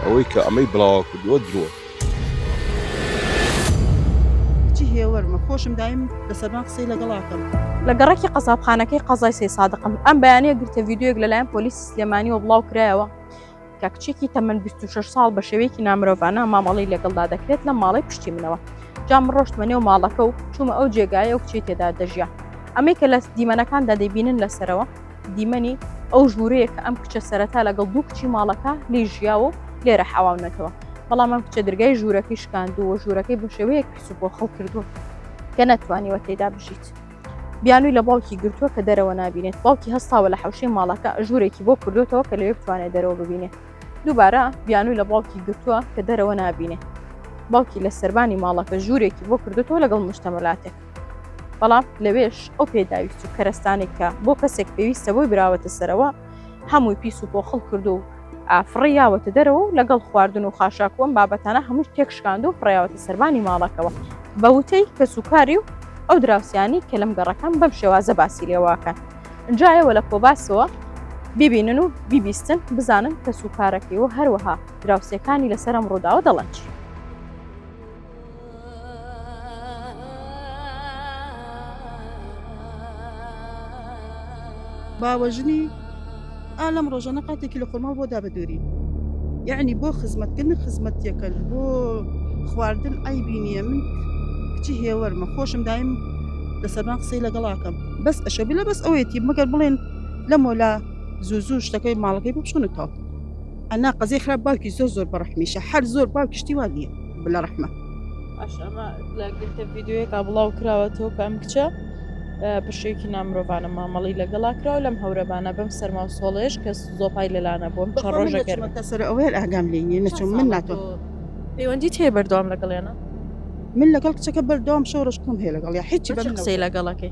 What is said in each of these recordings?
ئەوەی کە ئەمەی بڵاوە کردووە درۆ کچی هێوەرمە خۆشم دایم لە سەربان قسەی لەگەڵاکەم لە گەڕەکی قەزابخانەکەی قەزای سێ سادقم ئەم بەیانەیە گرتە ویددیوەک لەلایەن پۆلیس سلێمانیەوە بڵاو کرایەوە کە کچێکی تەمەەن 26 ساڵ بە شێوەیەکی نامرۆڤانە مامەڵی لەگەڵدا دەکرێت لە ماڵی پشتی منەوە جام ڕۆشتمە نێو ماڵەکە و چوومە ئەو جێگایە و کچی تێدا دەژیا ئەمەی کە لە دیمەنەکاندا دەبینن لەسەرەوە دیمەنی ئەو ژوورەیە کە ئەم کچە سەرەتا لەگەڵ دوو کچی ماڵەکە لی ژیاوە و لێرە حەواونەتەوە بەڵام ئەم کچە درگای ژوورەکەی شکاندووە ژوورەکەی بە شێوەیەک پیسوپۆ خەڵ کردوون کە نەتوانیوە تێدا بژیت بیانووی لە باوکی گرتووە کە دەرەوە نبینێت باوکی هەستاوە لە حوشەی ماڵەکە ژوورێکی بۆ کردوتەوە کە لەوێ بتوانێت دەرەوە ببینێت دووبارە بیانووی لە باوکی گرتووە کە دەرەوە نبینێت باوکی لە سربانی ماڵەکە ژوورێکی بۆ کردوتەوە لەگەڵ مشتەمەلاتێک بەڵام لەوێش ئەو پێداویست و کەرەستانێک کە بۆ کەسێک پێویستە بۆی براوەتە سەرەوە هەمووی پیس و پۆخڵ کرد و ئافڕی یاوەتە دەرەوە و لەگەڵ خواردن و خاشاکووەم بابەتانە هەمووش تێکشکاند و فڕیاوەتە سەربانی ماڵەکەەوە بە وتەی کەس و کاری و ئەو دراوسانی کە لەم گەڕەکەم بەم شێوازە باسی لێواکەن جایەوە لە کۆباسەوە ببینن و بیبیستن بزانن کەس و کارەکەی و هەروەها دراوسەکانی لەسەرم ڕووداوە دەڵەنچی باوەژنی، ئا لەم ڕۆژانە قاتێکی لە خۆرماڵ بۆ دابەدووری، یەعنی بۆ خزمەتکردن خزمەتیەکەن بۆ خواردن عەیبی نییە من کچی هێوەرمە خۆشم دایم لە سەربان قسەی لەگەڵاکەم بەس ئەشە بلە بەس ئەوەیەتی مەگەر بڵێن لە مۆلا زوو زوو شتەکەی ماڵەکەی بچونەتەوە ئەنا قەزەی خراپ باوکی زۆر زۆر بەڕەحمیشە هەر زۆر باوکی شتی وا نییە بلە ڕەحمە. ئەش ئەمە لە گرتە ڤیددیوەکە بڵاو کراوەتەوە کە ئەم کچە بەشێکی نامرۆڤانە مامەڵی لەگەڵا کراوە لەم هەورەبانە بەم سەرما و سۆڵێش کە زۆپای لەلانە بۆم چە ڕۆژەکەمەکە سەر ئەوەیە ئاگام لێ نیە نەچۆم من ناتۆ پەیوەندی تێ بەردەوام لەگەڵێنە من لەگەڵ کچەکە بەردەوام شەو ڕشکم هەیە لەگەڵ یا هیچی بە قسەی لەگەڵەکەی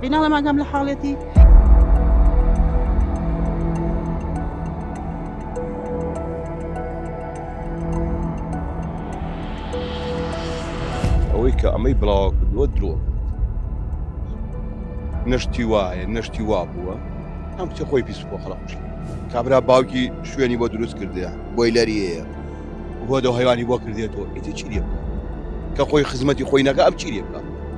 بیناڵە ماگام لە حاڵێتی. ئەوەی کە ئەمەی بڵاوە کردووە درۆ نەشتی وایە نەشتی وا بووە ئەم کچە خۆی پیس بۆ خەڵق کوشت کابرا باوکی شوێنی بۆ دروست کردە بۆی لەریەیە هۆدە هەیوانی بۆ کردێتەوە ئیتر چی لێ بکە کە خۆی خزمەتی خۆی نەکە ئەم چی لێ بکە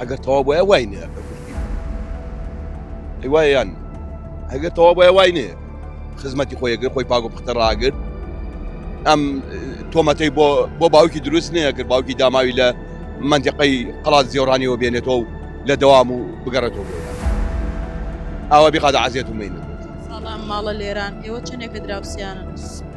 ئەگەر تەواو بۆیە وای نێ ئەی وای یان ئەگەر تەواو بۆیە وای نێ خزمەتی خۆیەگر خۆی پاگو پختە ڕاگرت ئەم تۆمەتەی بۆ بۆ باوکی دروست نییە کرد باوکی داماوی لە منجقەی قڵات زیێڕانیەوە بێنێتەوە و لە دەوام و بگەڕێتەوە ئاوا بخاتە عزیێت و مینە ماڵە لێران ئێوە چنێکە دراوسیانە